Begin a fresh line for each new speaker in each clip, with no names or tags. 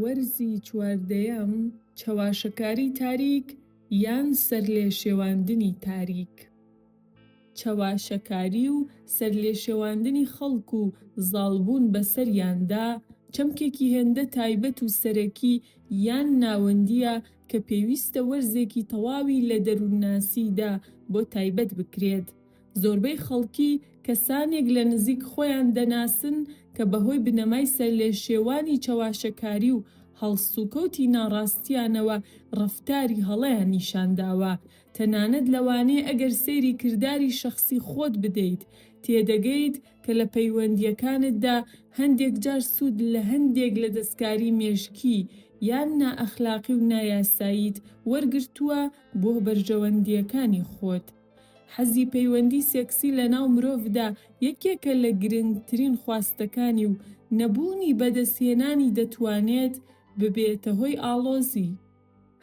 وەرزی چواردەیەم، چەواشەکاری تاریک یان سەرلێشێواندنی تاریک چەواشەکاری و سەرلێشێواندنی خەڵک و زاڵبوون بەسەریاندا، چەمکێکی هێندە تایبەت و سەرەکی یان ناوەندییە کە پێویستە وەرزێکی تەواوی لە دەروونناسیدا بۆ تایبەت بکرێت. زۆربەی خەڵکی کەسانێک لە نزیک خۆیان دەناسن کە بەهۆی بنەمای سەرلێشێوانی چەواشەکاری و هەڵسوکەوتی ناڕاستیانەوە ڕەفتاری هەڵەیان نیشانداوە، تەنانەت لەوانەیە ئەگەر سەیری کرداری شەخسی خۆت بدەیت تێدەگەیت کە لە پەیوەندییەکانتدا هەندێک جار سوود لە هەندێک لە دەستکاری مێشکی یان نائەخلاقی و نایاساییت وەرگرتووە بۆ بەرژەوەندییەکانی خۆت. حەزی پەیوەندی سێکسی لەناو مرۆڤدا یەکێکە لە گرنگترین خواستەکانی و نەبوونی بەدەستهێنانی دەتوانێت ببێتە هۆی ئاڵۆزی،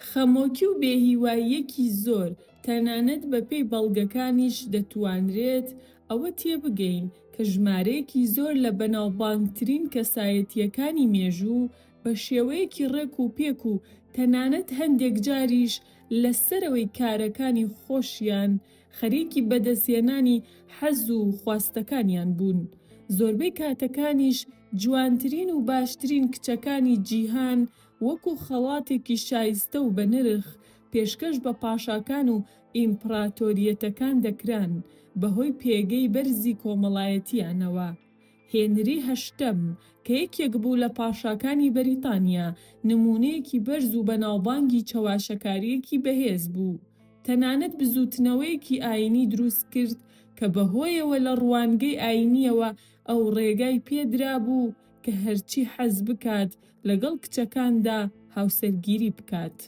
خەمۆکی و بێهیواییەکی زۆر، تەنانەت بەپێی بەڵگەکانیش دەتوانرێت ئەوە تێبگەین کە ژمارەیەکی زۆر لە بەناوبانگترین کەسایەتییەکانی مێژوو بە شێوەیەکی ڕێک و پێک و تەنانەت هەندێکجاریش لە سەرەوەی کارەکانی خۆشیان خەریکی بەدەستهێنانی حەز و خواستەکانیان بوون، زۆربەی کاتەکانیش جوانترین و باشترین کچەکانی جیهان وەکو خەڵاتێکی شایستە و بەنرخ پێشکەش بە پاشاکان و ئیمپڕاتۆریەتەکان دەکران بەهۆی پێگەی بەرزی کۆمەڵایەتییانەوە هێنری هەشتەم، کە یەکێک بوو لە پاشاکانی بەریتانیا، نموونەیەکی بەرز و بەناوبانگی چەواشەکارییەکی بەهێز بوو. تەنانەت بزووتنەوەیەکی ئایینی دروست کرد کە بەهۆیەوە لە ڕوانگەی ئایینییەوە ئەو ڕێگای پێ درابوو کە هەرچی حەز بکات لەگەڵ کچەکاندا هاوسەرگیری بکات.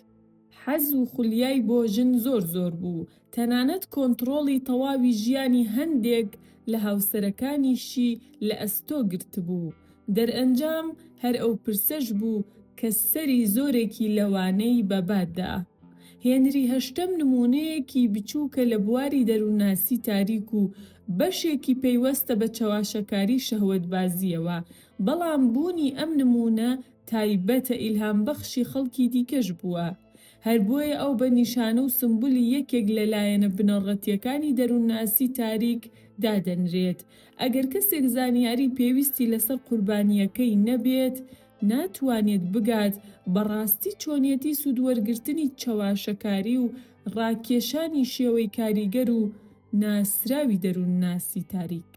حەز و خولیای بۆ ژن زۆر زۆر بوو، تەنانەت کۆنتڕۆڵی تەواوی ژیانی هەندێک لە هاوسەرەکانیشی لە ئەستۆ گرتبوو. دەرئەنجام هەر ئەو پرسەش بوو کە سەری زۆرێکی لەوانەی بە با دا. هێنری هەشتەم نموونەیەکی بچووکە لە بواری دەروونناسی تاریک و بەشێکی پەیوەستە بە چەواشەکاری شەهوەتبازییەوە، بەڵام بوونی ئەم نموونە تایبەتە ئیلهام بەخشی خەڵکی دیکەش بووە، هەر بۆیە ئەو بە نیشانە و سمبولی یەکێک لە لایەنە بنەڕەتییەکانی دەروونناسی تاریک دادەنرێت، ئەگەر کەسێک زانیاری پێویستی لەسەر قوربانییەکەی نەبێت ناتوانێت بگات بە ڕاستی چۆنیەتی سوودوەرگرتنی چەواشەکاری و ڕاکێشانی شێوەی کاریگەر و ناسراوی دەروونناسی تاریک.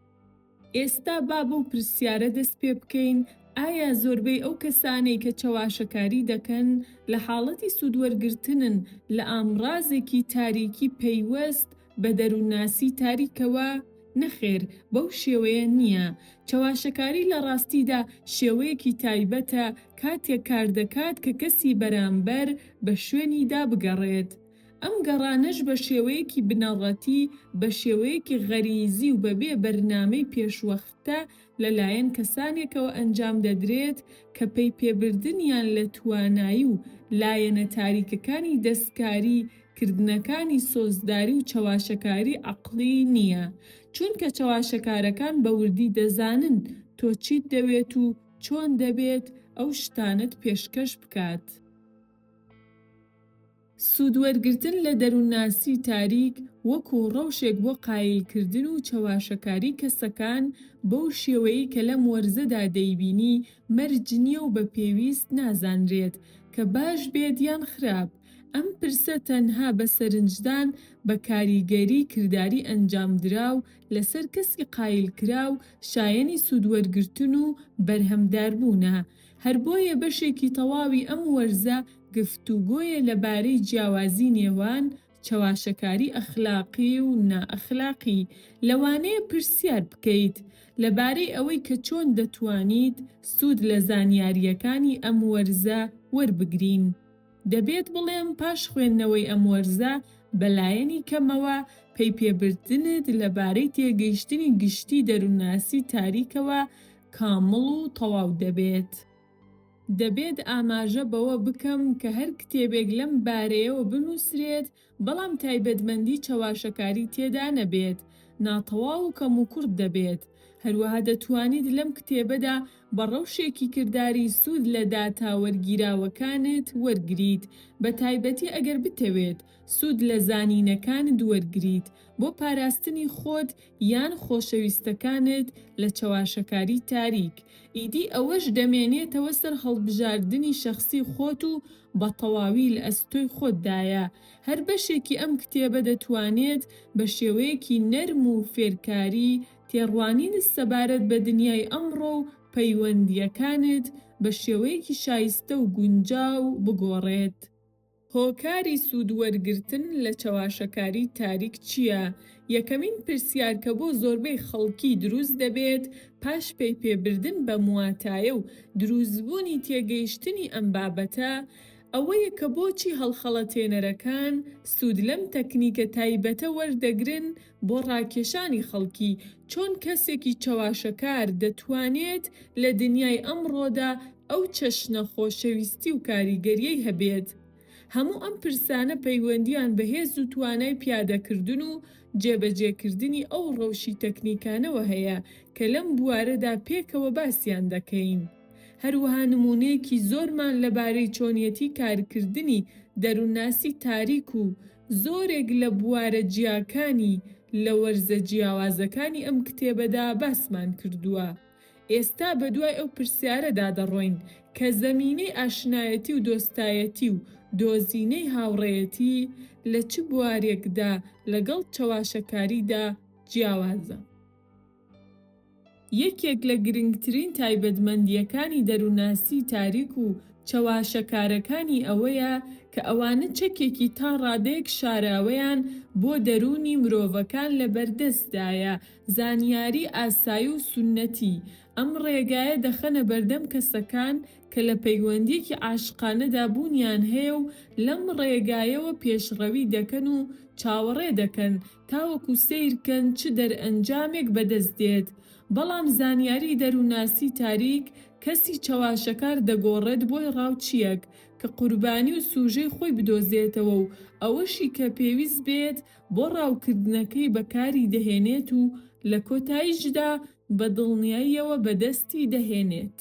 ئێستا با بەو پرسیارە دەست پێ بکەین، ئایا زۆربەی ئەو کەسانەی کە چەواشەکاری دەکەن لە حاڵەتی سوودوەرگرتنن لە ئامڕازێکی تاریکی پەیوەست بە دەروونناسی تاریکەوە؟ نەخێر، بەو شێوەیە نییە. چەواشەکاری لە ڕاستیدا شێوەیەکی تایبەتە کاتێک کاردەکات کە کەسی بەرامبەر بە شوێنیدا بگەڕێت. ئەم گەڕانەش بە شێوەیەکی بنەڕەتی، بە شێوەیەکی غەریزی و بەبێ بەرنامەی پێشوەختە لە لایەن کەسانێکەوە ئەنجام دەدرێت کە پەیپێبردنیان لە توانایی و لایەنە تاریکەکانی دەستکاری کردنەکانی سۆزداری و چەواشەکاری عەقڵی نییە چونکە چەواشەکارەکان بە وردی دەزانن تۆ چیت دەوێت و چۆن دەبێت ئەو شتانەت پێشکەش بکات. سوودوەرگرتن لە دەروونناسی تاریک وەکوو ڕەوشێک بۆ قایلکردن و چەواشەکاری کەسەکان بەو شێوەیەی کە لەم وەرزەدا دەیبینی مەرج نییە و بە پێویست نازانرێت کە باش بێت یان خراپ، ئەم پرسە تەنها بە سەرنجدان بە کاریگەری کرداری ئەنجامدراو لەسەر کەسی قایلکراو شایەنی سوودوەرگرتن و بەرهەمداربوونە. هەر بۆیە بەشێکی تەواوی ئەم وەرزە گفتوگۆیە لە بارەی جیاوازی نێوان چەواشەکاری ئەخلاقی و نائەخلاقی، لەوانەیە پرسیار بکەیت لە بارەی ئەوەی کە چۆن دەتوانیت سوود لە زانیارییەکانی ئەم وەرزە وەربگرین. دەبێت بڵێم پاش خوێندنەوەی ئەم وەرزە بەلایەنی کەمەوە پەی پێبردنت لەبارەی تێگەیشتنی گشتی دەروونناسی تاریکەوە کامڵ و تەواو دەبێت. دەبێت ئاماژە بەوە بکەم کە هەر کتێبێک لەم بارەیەوە بنووسرێت بەڵام تایبەتمەندی چەواشەکاری تێدا نەبێت، ناتەواو و کەموکوڕت دەبێت. هەروەها دەتوانیت لەم کتێبەدا بە ڕەوشێکی کرداری سوود لە داتا وەرگیراوەکانت وەرگریت، بە تایبەتی ئەگەر بتەوێت سوود لە زانینەکانت وەرگریت بۆ پاراستنی خۆت یان خۆشەویستەکانت لە چەواشەکاری تاریک. ئیدی ئەوەش دەمێنێتەوە سەر هەڵبژاردنی شەخسی خۆت و بە تەواوی لە ئەستۆی خۆتدایە، هەر بەشێکی ئەم کتێبە دەتوانێت بە شێوەیەکی نەرم و فێرکاری تێڕوانینت سەبارەت بە دنیای ئەمڕۆ و پەیوەندییەکانت بە شێوەیەکی شایستە و گونجاو بگۆڕێت. هۆکاری سوودوەرگرتن لە چەواشەکاری تاریک چییە؟ یەکەمین پرسیار کە بۆ زۆربەی خەڵکی دروست دەبێت پاش پەیپێبردن بەم واتایە و دروستبوونی تێگەیشتنی ئەم بابەتە ئەوەیە کە بۆچی هەڵخەڵەتێنەرەکان سوود لەم تەکنیکە تایبەتە وەردەگرن بۆ ڕاکێشانی خەڵکی؟ چۆن کەسێکی چەواشەکار دەتوانێت لە دنیای ئەمڕۆدا ئەو چەشنە خۆشەویستی و کاریگەریەی هەبێت هەموو ئەم پرسانە پەیوەندییان بە هێز و توانای پیادەکردن و جێبەجێکردنی ئەو ڕەوشی تەکنیکانەوە هەیە کە لەم بوارەدا پێکەوە باسیان دەکەین. هەروەها نموونەیەکی زۆرمان لەبارەی چۆنیەتی کارکردنی دەروونناسی تاریک و زۆرێک لە بوارە جیاکانی لە وەرزە جیاوازەکانی ئەم کتێبەدا باسمان کردووە. ئێستا بەدوای ئەو پرسیارەدا دەڕۆین کە زەمینەی ئاشنایەتی و دۆستایەتی و دۆزینەی هاوڕێیەتی لە چ بوارێکدا لەگەڵ چەواشەکاریدا جیاوازە؟ یەکێک لە گرنگترین تایبەتمەندییەکانی دەروونناسیی تاریک و چەواشەکارەکانی ئەوەیە کە ئەوانە چەکێکی تا ڕادەیەک شاراوەیان بۆ دەروونی مرۆڤەکان لەبەردەستدایە زانیاری ئاسایی و سوننەتی، ئەم ڕێگایە دەخەنە بەردەم کەسەکان کە لە پەیوەندییەکی عاشقانەدا بوونیان هەیە و لەم ڕێگایەوە پێشڕەوی دەکەن و چاوەڕێ دەکەن تاوەکو سەیر کەن چ دەرئەنجامێک بەدەست دێت بەڵام زانیاری دەرووناسی تاریک کەسی چەواشەکار دەگۆڕێت بۆی ڕاوچییەک کە قوربانی و سوژەی خۆی بدۆزێتەوە و ئەوەشی کە پێویست بێت بۆ ڕاوکردنەکەی بەکاری دەهێنێت و لە کۆتاییشدا بە دڵنیاییەوە بەدەستی دەهێنێت.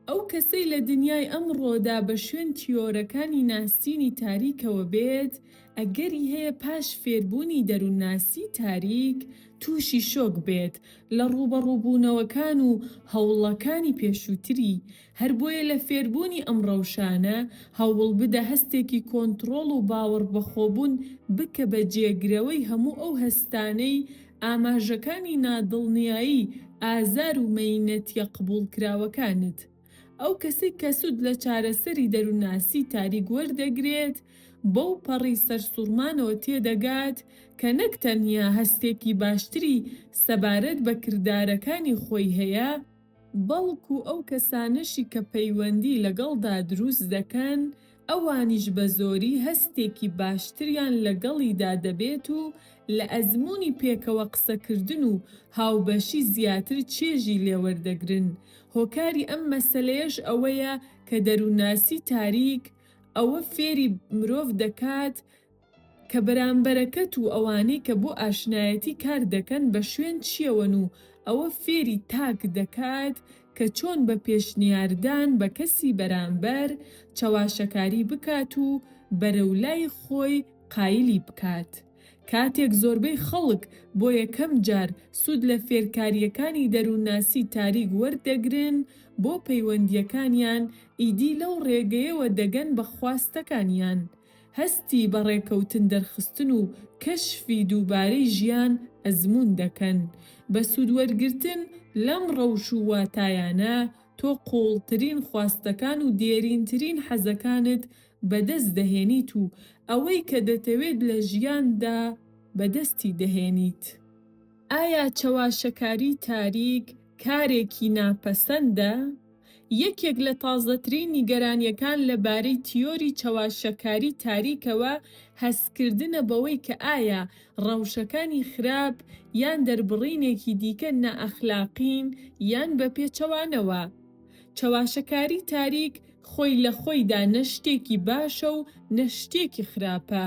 ئەو کەسەی لە دنیای ئەمڕۆدا بە شوێن تیۆرەکانی ناسینی تاریکەوە بێت، ئەگەری هەیە پاش فێربوونی دەروونناسیی تاریک، تووشی شۆک بێت لە ڕووبەڕووبوونەوەکان و هەوڵەکانی پێشووتری، هەر بۆیە لە فێربوونی ئەم ڕەوشانە هەوڵ بدە هەستێکی کۆنتڕۆڵ و باوەڕبەخۆبوون بکە بە جێگرەوەی هەموو ئەو هەستانەی ئاماژەکانی نادڵنیایی، ئازار و مەینەتیە قبوڵکراوەکانت. ئەو کەسەی کە سوود لە چارەسەری دەروونناسی تاریک وەردەگرێت بەو پەڕی سەرسوڕمانەوە تێدەگات کە نەک تەنیا هەستێکی باشتری سەبارەت بە کردارەکانی خۆی هەیە، بەڵکو ئەو کەسانەشی کە پەیوەندی لەگەڵدا دروست دەکەن، ئەوانیش بەزۆری هەستێکی باشتریان لەگەڵیدا دەبێت و لە ئەزموونی پێکەوە قسەکردن و هاوبەشی زیاتر چێژی لێوەردەگرن، هۆکاری ئەم مەسەلەیەش ئەوەیە کە دەروونناسی تاریک ئەوە فێری مرۆڤ دەکات، کە بەرامبەرەکەت و ئەوانەی کە بۆ ئاشنایەتی کار دەکەن بە شوێن چیەوەن و ئەوە فێری تاک دەکات کە چۆن بە پێشنیاردان بە کەسی بەرامبەر چەواشەکاری بکات و بەرەو لای خۆی قایلی بکات کاتێک زۆربەی خەڵک بۆ یەکەم جار سود لە فێرکاریەکانی دەرونناسی تاریک وەردەگرن بۆ پەیوەندیەکانیان ئیدی لەو ڕێگەیەوە دەگەن بە خواستەکانیان هەستی بە ڕێکەوتن دەرخستن و کەشفی دووبارەی ژیان ئەزموون دەکەن. بە سوودوەرگرتن لەم ڕەوش و واتایانە، تۆ قووڵترین خواستەکان و دێرینترین حەزەکانت بەدەست دەهێنیت و ئەوەی کە دەتەوێت لە ژیاندا بەدەستی دەهێنیت. ئایا چەواشەکاری تاریک کارێکی ناپەسەندە؟ یەکێک لە تازەترین نیگەرانییەکان لەبارەی تیۆری چەواشەکاری تاریکەوە هەستکردنە بەوەی کە ئایا ڕەوشەکانی خراپ یان دەربڕینێکی دیکە نائەخلاقین یان بەپێچەوانەوە. چەواشەکاری تاریک خۆی لە خۆیدا نە شتێکی باشە و نە شتێکی خراپە.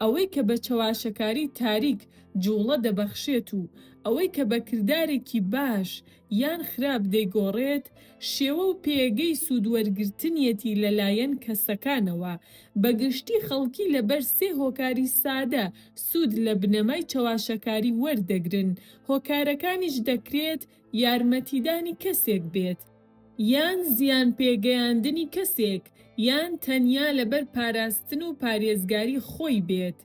ئەوەی کە بە چەواشەکاری تاریک جووڵە دەبەخشێت و ئەوەی کە بە کردارێکی باش یان خراپ دەیگۆڕێت، شێوە و پێگەی سوودوەرگرتنیەتی لەلایەن کەسەکانەوە، بە گشتی خەڵکی لەبەر سێ هۆکاری سادە سوود لە بنەمای چەواشەکاری وەردەگرن، هۆکارەکانیش دەکرێت یارمەتیدانی کەسێک بێت، یان زیان پێگەیاندنی کەسێک، یان تەنیا لەبەر پاراستن و پارێزگاری خۆی بێت.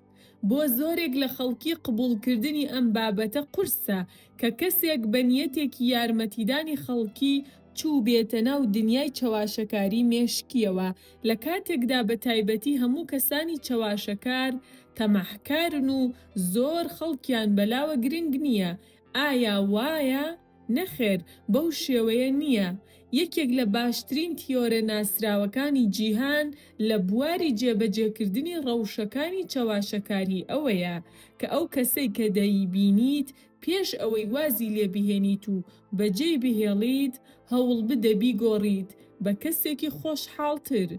بۆ زۆرێک لە خەڵکی قبوڵکردنی ئەم بابەتە قورسە کە کەسێک بە نیەتێکی یارمەتیدانی خەڵکی چووبێتە ناو دنیای چەواشەکاری مێشکییەوە، لە کاتێکدا بە تایبەتی هەموو کەسانی چەواشەکار تەماحکارن و زۆر خەڵکیان بەلاوە گرنگ نییە ئایا وایە؟ نەخێر بەو شێوەیە نییە، یەکێک لە باشترین تیۆرە ناسراوەکانی جیهان لە بواری جێبەجێکردنی ڕەوشەکانی چەواشەکاریی ئەوەیە کە ئەو کەسەی کە دەیبینیت پێش ئەوەی وازی لێ بهێنیت و بەجێی بهێڵیت هەوڵبدە بیگۆڕیت بە کەسێکی خۆشحاڵتر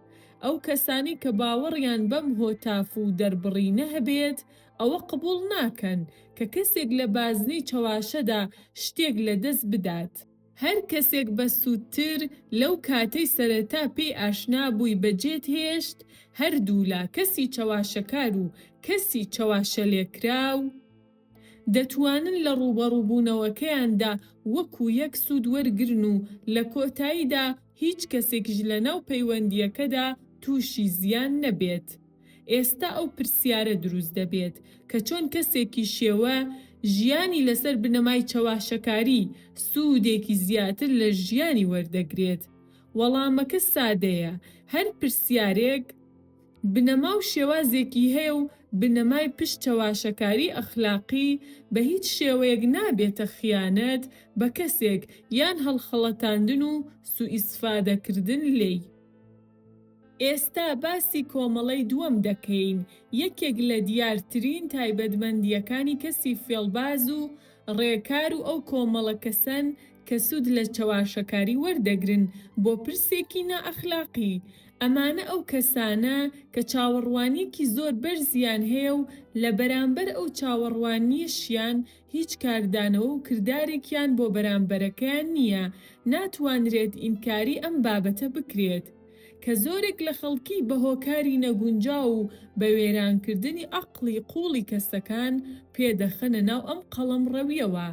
ئەو کەسانەی کە باوەڕیان بەم هۆتاف و دەربڕینە هەبێت ئەوە قبوڵ ناکەن کە کەسێک لە بازنەی چەواشەدا شتێک لە دەست بدات. هەر کەسێک بەسوودتر لەو کاتەی سەرەتا پێی ئاشنا بووی بەجێت هێشت، هەردوولا کەسی چەواشەکار و کەسی چەواشەلێکراو دەتوانن لە ڕووبەڕووبوونەوەکەیاندا وەکو یەک سوود وەرگرن و لە کۆتاییدا هیچ کەسێکیش لەناو پەیوەندییەکەدا تووشی زیان نەبێت. ئێستا ئەو پرسیارە دروست دەبێت کە چۆن کەسێکی شێوە ژیانی لەسەر بنەمای چەواشەکاری سوودێکی زیاتر لە ژیانی وەردەگرێت؟ وەڵامەکە سادەیە، هەر پرسیارێک، بنەما و شێوازێکی هەیە و بنەمای پشت چەواشەکاری ئەخلاقی بە هیچ شێوەیەک نابێتە خیانەت بە کەسێک یان هەڵخەڵەتاندن و سوئیسفادەکردن لێی. ئێستا باسی کۆمەڵەی دووەم دەکەین، یەکێک لە دیارترین تایبەتمەندییەکانی کەسی فێڵباز و ڕێکار و ئەو کۆمەڵە کەسەن کە سوود لە چەواشەکاری وەردەگرن بۆ پرسێکی نائەخلاقی، ئەمانە ئەو کەسانە کە چاوەڕوانیەکی زۆر بەرزیان هەیە و لە بەرامبەر ئەو چاوەڕوانیەشیان هیچ کاردانەوە و کردارێکیان بۆ بەرامبەرەکەیان نییە، ناتوانرێت ئینکاری ئەم بابەتە بکرێت کە زۆرێک لە خەڵکی بە هۆکاری نەگونجاو و بە وێرانکردنی عەقڵی قووڵی کەسەکان پێدەخەنە ناو ئەم قەڵەمڕەویەوە.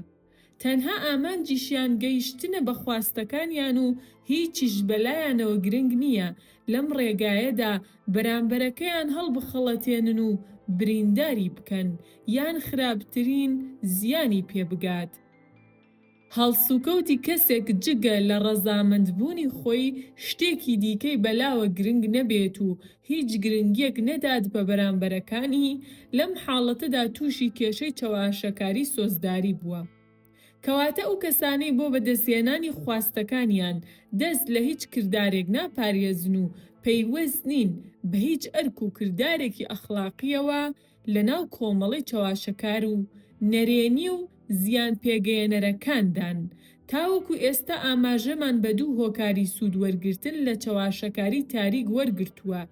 تەنها ئامانجیشیان گەیشتنە بە خواستەکانیان و هیچیش بەلایانەوە گرنگ نییە لەم ڕێگایەدا بەرامبەرەکەیان هەڵبخەڵەتێنن و برینداری بکەن یان خراپترین زیانی پێ بگات. هەڵسوکەوتی کەسێک جگە لە ڕەزامەندبوونی خۆی شتێکی دیکەی بەلاوە گرنگ نەبێت و هیچ گرنگیەک نەدات بە بەرامبەرەکانی، لەم حاڵەتەدا تووشی کێشەی چەواشەکاری سۆزداری بووە. کەواتە ئەو کەسانەی بۆ بەدەستهێنانی خواستەکانیان دەست لە هیچ کردارێک ناپارێزن و پەیوەست نین بە هیچ ئەرک و کردارێکی ئەخڵاقیەوە، لەناو کۆمەڵەی چەواشەکار و نەرێنی و زیان پێگەیەنەرەکاندان، تاوەکو ئێستا ئاماژەمان بە دوو هۆکاری سوود وەرگرتن لە چەواشەکاری تاریک وەرگرتووە،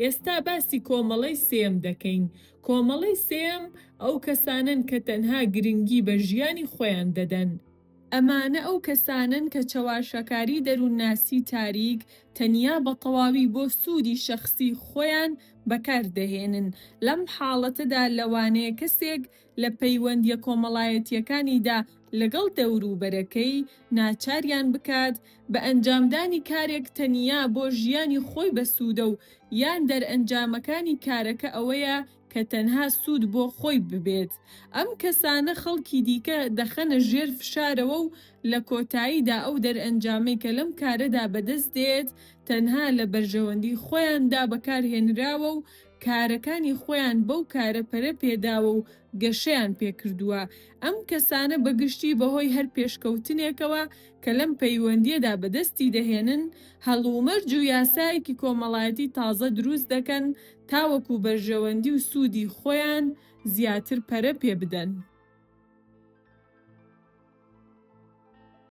ئێستا باسی کۆمەڵەی سێیەم دەکەین، کۆمەڵەی سێیەم ئەو کەسانەن کە تەنها گرنگی بە ژیانی خۆیان دەدەن، ئەمانە ئەو کەسانەن کە چەواشەکاری دەروونناسی تاریک تەنیا بە تەواوی بۆ سوودی شەخسی خۆیان بەکار دەهێنن. لەم حاڵەتەدا لەوانەیە کەسێک لە پەیوەندییە کۆمەڵایەتییەکانیدا لەگەڵ دەوروبەرەکەی ناچاریان بکات بە ئەنجامدانی کارێک تەنیا بۆ ژیانی خۆی بەسوودە و یان دەرئەنجامەکانی کارەکە ئەوەیە کە تەنها سوود بۆ خۆی ببێت، ئەم کەسانە خەڵکی دیکە دەخەنە ژێر فشارەوە و لە کۆتاییدا ئەو دەرئەنجامەی کە لەم کارەدا بەدەست دێت تەنها لە بەرژەوەندی خۆیاندا بەکارهێنراوە و کارەکانی خۆیان بەو کارە پەرە پێداوە و گەشەیان پێکردووە، ئەم کەسانە بە گشتی بەهۆی هەر پێشکەوتنێکەوە کە لەم پەیوەندییەدا بەدەستی دەهێنن هەڵومەرج و یاسایەکی کۆمەڵایەتی تازە دروست دەکەن تاوەکو بەرژەوەندی و سوودی خۆیان زیاتر پەرە پێبدەن.